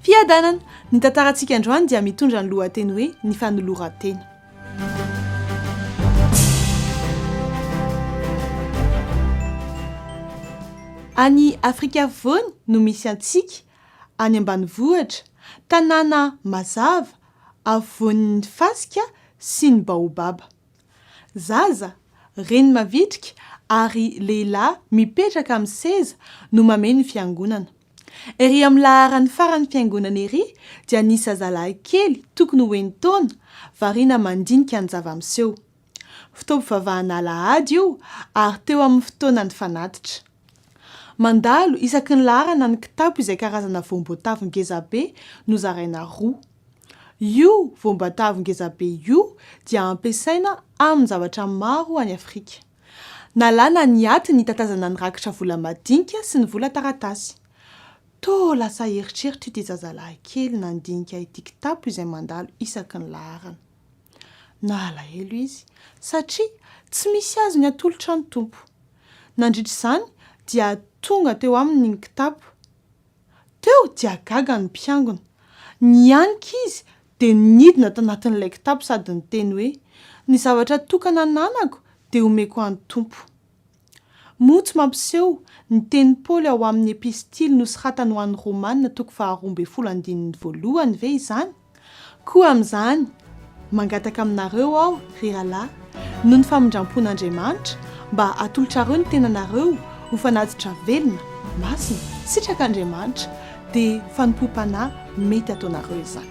Fiadanana! Ny tantarantsika androany dia mitondra ny lohateny hoe Ny fanoloran-tena. Any Afrika Afovoany no misy antsika, any ambanivohitra, tanàna mazava, afovoan'ny fasika sy ny baobaba. Zaza, reny mavitrika ary lehilahy mipetraka amin'ny seza no mamehy ny fiangonana. Ery amin'ny laharan'ny faran'ny fiangonana ery dia nisy zazalahy kely tokony ho enin-taona variana mandinika ny zava-miseho. Fotoam-pivavahana alahady io ary teo amin'ny fotoana nifanatitra. Mandalo isaky ny laharana ny kitapo izay karazana voamboatavo ngezabe nozaraina roa. Io voambatavy ngezabe io dia ampiasaina amin-javatra maro any Afrika. Nalana ny atiny hitatazana ny rakitra vola madinika sy ny vola taratasy. Toa lasa eritreritra ity zazalahy kely nandinika ity kitapo izay mandalo isaky ny laharana. Nalahelo izy satria tsy misy azony atolotra ny Tompo. Nandritra izany dia tonga teo aminy ny kitapo. Teo dia gaga ny mpiangona. Nianika izy dia nidina tanatin'ilay kitapo sady niteny hoe, Ny zavatra tokana ananako dia omeko an'ny Tompo. Moa tsy mampiseho ny tenin'i Paoly ao amin'ny Epistily nosoratany ho an'ny Romana toko faharoa ambin'ny folo andininy voalohany ve izany? Koa amin'izany, mangataka aminareo aho, ry rahalahy, noho ny famindram-pon'Andriamanitra, mba hatolotrareo ny tenanareo ho fanatitra velona, masina, sitrak'Andriamanitra, dia fanompoam-panahy mety ataonareo izany.